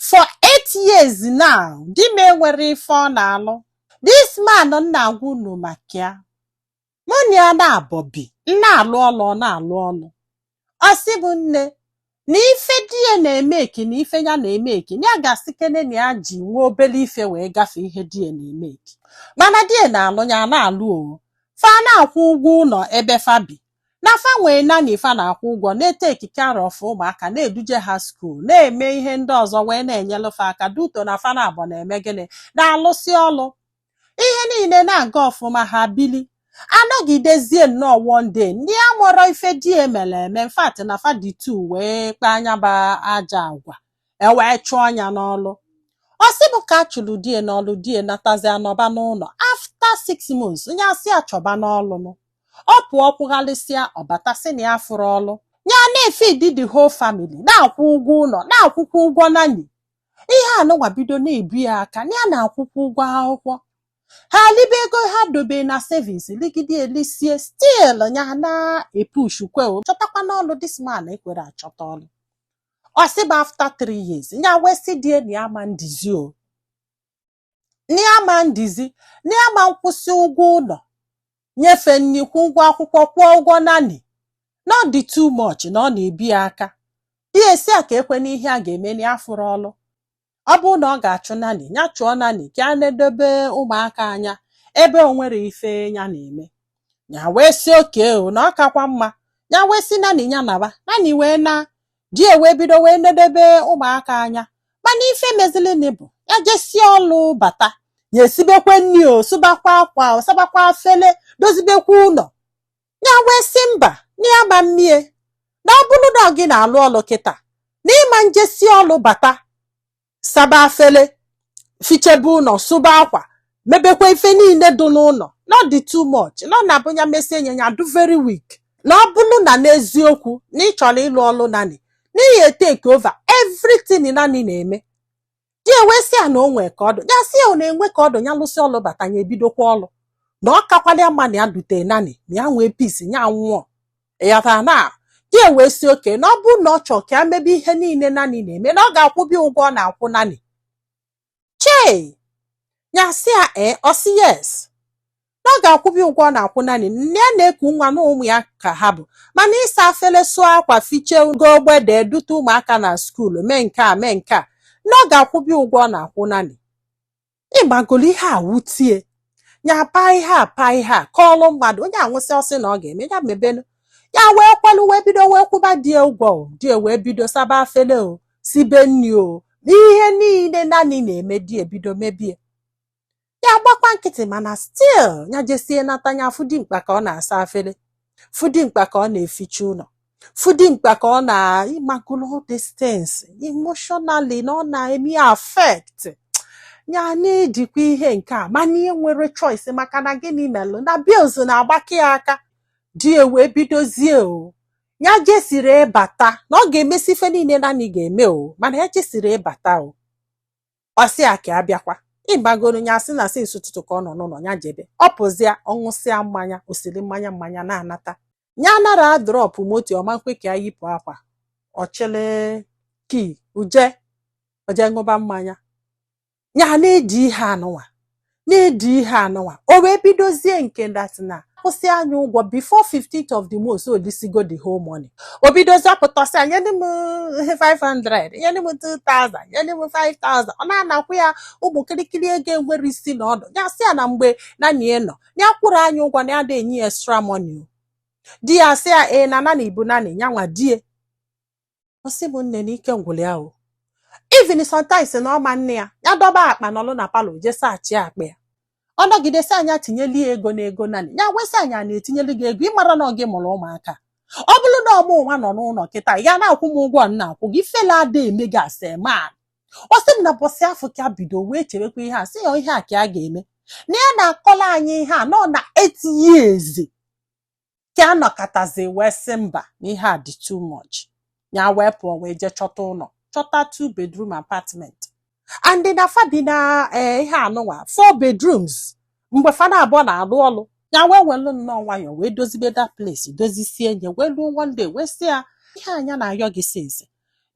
for eight years now di m enwerọ ife ọ na-alụ this man m na-agwa unu maka ya mụ na ya naabọ bi m na-alụ ọlụ ọ na-alụ ọlụ ọ sị m nne na ife di ya na-emeki na ife ya na-emeki na ya ga-asị kene na ya ji nwa obele ife wee gafee ihe di ya na-emeki mana di ya na-alụ ya na-alụ o fa na-akwụ ụgwọ ụlọ ebe fa bi na fa nwee nanny fa na-akwụ ụgwọ na-eteki care of ụmụaka na-eduje ha skuul na-eme ihe ndị ọzọ wee na-enyelụ fa aka due to na fa naabọ na-eme gịnị na-alụsị ọlụ ihe niile na-aga ọfụma ha bili anọgidezie nnọọ one day nya amarọ ife di ya mere eme in fact na fa dị two wee kpaa nya bụ ajọ agwa e wee chụọ nya n'ọlụ ọ sị bụ ka a chụrụ di ya n'ọlụ di ya natazia nọba n'ụlọ after six months nya asị ya chọbanụ ọlụ nụ ọ pụọ kwụgharịsịa ọ bata sị na ya afụrọ ọlụ ya na-efidi the whole family na-akwụ ụgwọ ụlọ na-akwụkwa ụgwọ nanny ihe a nụnwa bido na-ebu ya aka na ya na-akwụkwa ụgwọ akwụkwọ ha libe ego ha dobe na savings ligide elisie still ya na-epushkwa o chọtakwanụ ọlụ this man ekwerọ achọta ọlụ ọ sị bụ after three years ya wee sị di ya na ya ama ndizi o na ya ama ndizi na ya ama nkwụsị ụgwọ ụlọ nye fa nni kwụọ ụgwọ akwụkwọ kwụọ ụgwọ nanny na ọ dị too much na ọ na-ebi ya aka di ya asị ya ka ekwe n'ihe a ga-eme na ya afụrọ ọlụ ọ bụrụ na ọ ga-achụ nanny ya chụọ nanny ka ya nedobe ụmụaka anya ebe o nwerọ ife ya na-eme ya wee sị okay o na ọ kakwa mma ya wee sị nanny ya naba nanny wee naa di ya wee bido wee nedebe ụmụaka anya mana ife mezilini bụ ya jesie ọlụ bata ya esibekwe nni o sụbakwa akwa o sabakwa afele dozibekwa ụlọ ya wee sị mba na ya ama mme ya na ọ bụrụ na gị na-alụ ọlụ kịta na ị ma njesi ọlụ bata saba afele fichebe ụlọ sụba akwa mebekwa ife niile dị n'ụlọ na ọ dị too much na ọ na-abụ ya mesie nya adụ very weak na ọ bụrụ na n'eziokwu na ị chọrọ ịlụ ọlụ nanny na ị ya-eteke over everything nanny na-eme di ya wee sị ya na o nwee ka ọ dụ ya sị ya ọ na-enwe ka ọ dụ ya lụsị ọlụ bata ya ebidokwa ọlụ na ọ kakwalụ ya mma na ya dute nanny na ya nwee peace ya nwụọ ị ghọta na di ya wee sị okay na ọ bụ na ọ chọọ ka ya mebe ihe niile nanny na-eme na ọ ga-akwụba ya ụgwọ ọ na-akwụ nanny chei ya sị ya ee ọ sị yes na ọ ga-akwụba ya ụgwọ ọ na-akwụ nanny nne ya na-eku nwa na ụmụ ya ka ha bụ mana ịsa afele sụọ akwa fiche ugo ogbede dute ụmụaka na skuulu mee nke a mee nke a na ọ ga-akwụba ya ụgwọ ọ na-akwụ nanny ịmagolo ihe a wutie ya paa ihe a paa ihe a kọọlụ mmadụ onye a nwụsị ọ sị na ọ ga-eme ya mebenu ya wee kwalụ wee bido wee kwụba die ụgwọ o die wee bido saba afele o sibe nni o ihe niile nanny na-eme die bido mebie ya gbakwa nkịtị mana still ya jesie nata ya afụ dimkpa ka ọ na-asa afele fụ dimkpa ka ọ na-eficha ụlọ fụ dimkpa ka ọ na ịmagolo these things emotionally na ọ na-eme ya affect ya na-edikwa ihe nke a mana enwerọ choice maka na gịnị melụ na bills na-agbake ya aka die wee bidozie o ya jesiri ịbata na ọ ga-emesi ife niile nanny ga-eme o mana ya jesiri ịbata o ọ sị ya ka a bịakwa ịmagoro ya sị na since ụtụtụ ka ọ nọ n'ụlọ ya jebe ọ pụzịa ọ ṅụsịa mmanya o siri mmanya mmanya na-anata ya nara drọpụ moto ọ ma nkwe ka ya yipụ akwa ọ chịlị key o je o je ṅụba mmanya ya na-edi ihe anụnwa na-edi ihe anụnwa o wee bidozie nke that is na a kwụsịa nya ụgwọ before 15th of the month o lisigo the whole money o bidozie pụta sị ya nyedị m 500 nyedị m 2000 nyedị m 5000 ọ na-anakwa ya ụmụ kirikiri ego enwerọ isi na ọdụ ya sị ya na mgbe nanny nọ ya kwụrụ nya ụgwọ na ya da enye ya extra money o di ya sị ya ee na nanny bụ nanny ya nwa die ọ sị m nne na ike gwụlụ ya o even sometimes na ọma nne ya ya dọba akpa n'ọlụ na palọ je search akpa ya ọ nọgide sị nya tinyeli ya ego na ego nanny ya wee sị nya na-etinyelu gị ego ị mara na ọ gị mụrụ ụmụaka ọ bụrụ na ọ mụ nwa nọ n'ụlọ kịta ị ga na-akwụ m ụgwọ m na-akwụ gị ifele ada eme gị as a man ọ sị m na ụbọsị afụ ka bido wee chewekwa ihe a sị ya ihe a ka a ga-eme na ya na-akọla anyị ihe a nọ na eight years ka a nọkatazi wee sị mba na ihe a dị too much ya wee pụọ wee jee chọta ụlọ chọta two bedroom apartment and na fa bi na eh, ihe anụnwa four bedrooms mgbe fa naabụọ na-alụ ọlụ ya wee welụ nnọọ nwayọọ wee dozibe that place dozisie nya wee luo one day wee sị ya ihe a nya na-ayọ gị since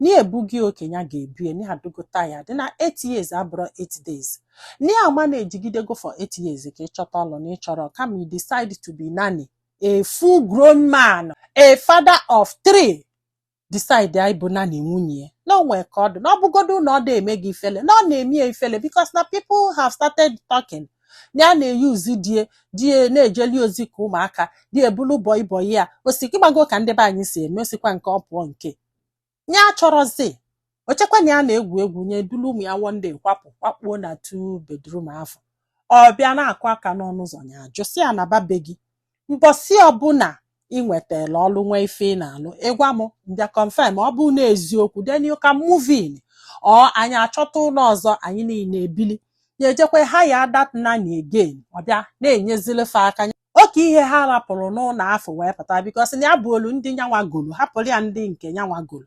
ni ebugi oke ya ga-ebie na ya adịgo tired na 8 years abụrọ 8 days ni ama na-ejigidego for 8 years ka ị chọta ọlụ na ị chọrọ kama you decide to be nanny a full grown man a father of three decide ịbụ nanny nwunye ya na o nwe ka ọ dị na ọ bụgodu na ọ da eme gị ifele na ọ na-eme ya ifele because na people have started talking na ya na-eyuzi die die na-ejeli ozi ka ụmụaka die abụlụ bọị bọị ya ọ sị ịmago ka ndị be anyị si eme ọ sịkwa nke ọ pụọ nke ya achọrọzi o chekwa na ya na-egwu egwu nya dulu ụmụ ya one day kwapụ kwakpuo na two bedroom afụ ọ bịa na-akụ aka n'ọnụ ụzọ ya ajụ sị ya naba be gị mbọsị ọbụla ị nwetara ọlụ nwee ife ị na-alụ ị gwa m m bịa confirm ọ bụ na eziokwu then you can move in or anyị achọta ụlọ ọzọ anyị niile ebili ya ejekwa hire that nanny again ọ bịa na-enyezili fa aka oke ihe ha rapụrụ n'ụlọ afụ wee pụta because na ya buulu ndị nyanwa golu hapụrụ ya ndị nke nyanwa golu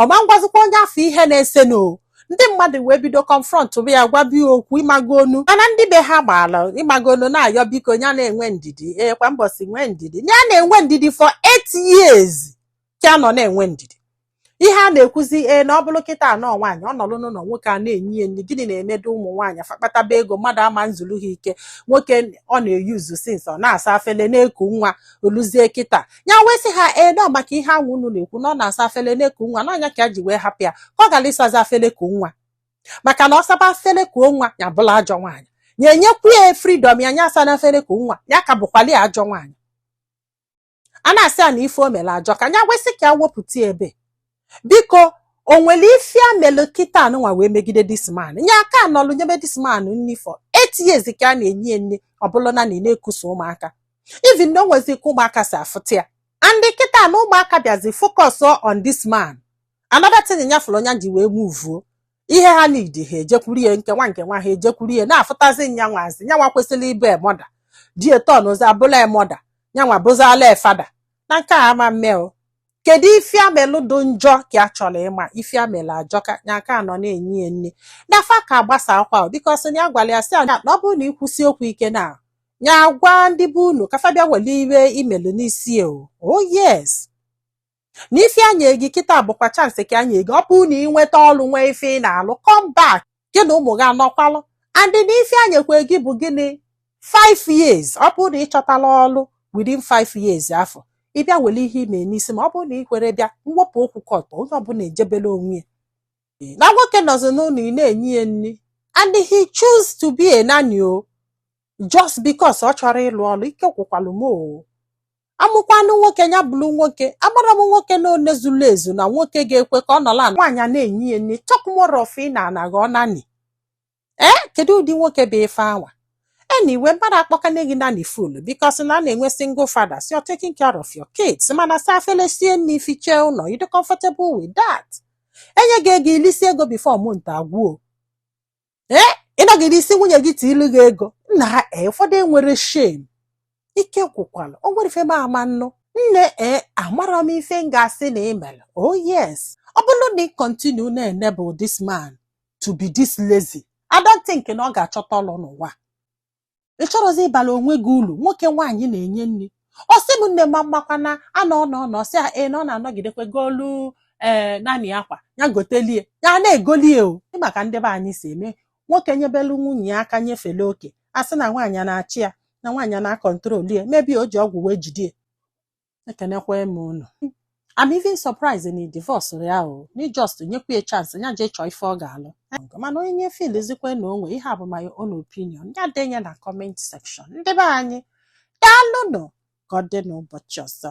ọ ma ngwazikwa onye afụ ihe na-esenụ ndị mmadụ wee bido confrontụba ya gwaba ya okwu ị magonụ mana ndị be ha gbaala ị magonụ na-ayọ biko ya na-enwe ndidi ee kwa mbọsị nwee ndidi ya na-enwe ndidi for eight years ka ya nọ na-enwe ndidi ihe a na-ekwuzi ee na ọ bụrụ kịta a na nwaanyị ọ nọrọ n'ụlọ nwoke ana-enye ya nri gịnị na-emedu ụmụ nwaanyị fa kpataba ego mmadụ ama nzuru ha ike nwoke ọ na-eyuzu since ọ na-asa afele na-eku nwa o luzie kịta ya wee sị ha ee na maka ihe anwa unu na-ekwu na ọ na-asa afele na-eku nwa na nya ka ya ji wee hapụ ya ka ọ ghara ịsazi afele kuo nwa maka na ọ saba afele kuo nwa ya abụlụ ajọ nwaanyị ya enyekwu ya freedom ya nya asana afele kuo nwa ya ka bụkwalị ajọ nwaanyị a na-asị ya na ife o mere ajọka ya wee sị ka ya wepụta ebe biko o nwere ife ya melụ kịta anụnwa wee megide this man nya aka nọlụ nyebe this man nri for eight years ka ya na-enye ya nni ọ bụlụ na na ị na-ekusa ụmụaka even na o nwezi ka ụmụaka si afụta ya and kịta na ụmụaka bịazi focus on this man another thing nya fụrụ nya ji wee muvuo ihe ha need ha ejekwuru ya nke nwa nke nwa ha ejekwuru ya na-afụtazi nyanwazi nyanwa kwesịrị ịbụ a mother di ya etọnụzi abụlụ a mother nyanwa bụzala a father na nke a ama mme o kedu ife ya melụ dị njọ ka ya chọrọ ịma ife ya melụ ajọka nya aka nọ na-enye ya nri na fa aka agbasakwa because na ya gwara ya sị ya na ọ bụrụ na ị kwusie okwu ike na ya gwa ndị be unu ka fa bịa were ife ị melụ n'isi ya o oh yes na ife ya nye gị kịta bụkwa chance ka ya nye gị ọ bụrụ na ị nweta ọrụ nwee ife ị na-alụ come back gị na ụmụ gị anọkwalụ and na ife ya nyekwa gị bụ gịnị 5 years ọ bụrụ na ị chọtarọ ọlụ within 5 years afụ ị bịa were ihe ị me n'isi ma ọ bụrụ na ị kwerọ bịa m wepụ okwu court onye ọbụla ejebela onwe ya Ee, na nwoke nọzi n'ụlọ ị na-enye ya nri and he choose to be a nanny o just because ọ chọrọ ịlụ ọlụ ike gwụkwalụ m o a mụkwanụ nwoke ya bụrụ nwoke agbara m nwoke na one zuru ezu na nwoke ga-ekwe ka ọ nọlụ ana nwaanyị ana-enye ya nni talk more of ị nọ na-aghọ nanny ee kedu ụdị nwoke bụ ife anwa anyway mmadụ akpọkana gị nanny full because na a na-enwe single fathers you're taking care of your kids mana saa afele sie nni fichaa ụlọ ị dị comfortable with that e nye gị ego i lisie ego before month agwụ o ee ị nọgide ị sị nwunye gị tiilu gị ego nnaa ee ụfọdụ enwerọ shame ike gwụkwala o nwerọ ife m ama nnụ nne ee amarọ m ife m ga-asị na ị melụ oh yes ọ bụrụ na ị continue na-enable this man to be this lazy I don't think na ọ ga-achọta ọlụ n'ụwa ị chọrọzi ịbala onwe gị ulu nwoke nwaanyị na-enye nri ọ sị m nne ma mmakwa na anọ ọnọ ọnọ sị a ee na ọ na-anọgidekwe golu ee naanị akwa ya gotelie ya na-egolie o Ị ma ka ndị be anyị si eme nwoke nyebelu nwunye ya aka nyefele oke a sị na nwaanyị a na-achị ya na nwaanyị a na-akọntrol ya maybe o ji ọgwụ wee jide ya ekenekwa m unu I'm even surprised na ị divorcerọ ya o na ị just nyekwa ya chance nya jee chọọ ife ọ ga-alụ mana onye na-efeelzikwa na o nwe ihe a bụ my own opinion ya denye na comment section ndị be anyị daalụnụ ka ọ dị n'ụbọchị ọzọ